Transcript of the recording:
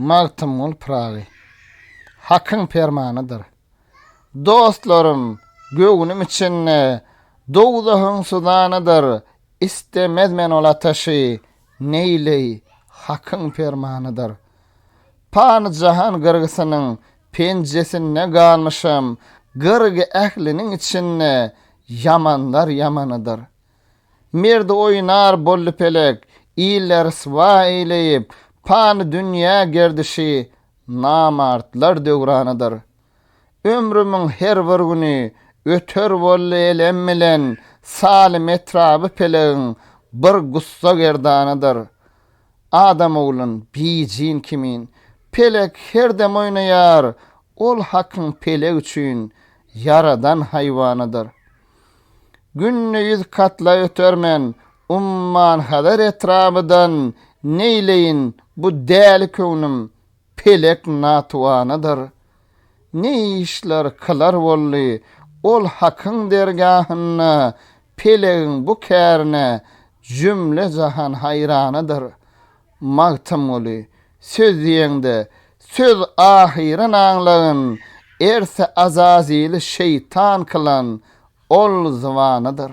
Magtymgul Pyragy, Hakyň permanydyr. Dostlarym, göwnüm içinde dowzahyň suzanydyr, Istemez men ol ataşy, neýleý, Hakyň permanydyr. Pany-jahan gyrgysynyň penjesinde galmyşam, Gyrgy ähliniň içinde ýamanlar ýamanydyr. Merdi oýnar boldy pelek, Ille ryswa eýleýip, Pany dünýä gerdişi Namartlar döwranydyr. Ömrümiň her bir güni Öter boldy elem bilen, Salym etraby pelegiň Bir gussa gerdanydyr. Adam oglun, bijin kimin, Pelek her dem oýnaýar, Ol hakyň pelek üçin Ýaradan haýwanydyr. Gündiz katla ötermen, Umman-Hazar etrabydan neýleýin bu däli köwnim pelek natuwanydyr. Ne işler kylar boldy, ol Hakyň dergahynda pelegiň bu kärine jümle-jahan haýranydyr. Magtymguly, söz diýeňde, söz ahyryn aňlagyn, erse Azazili şeýtan kylan, ol zybanydyr.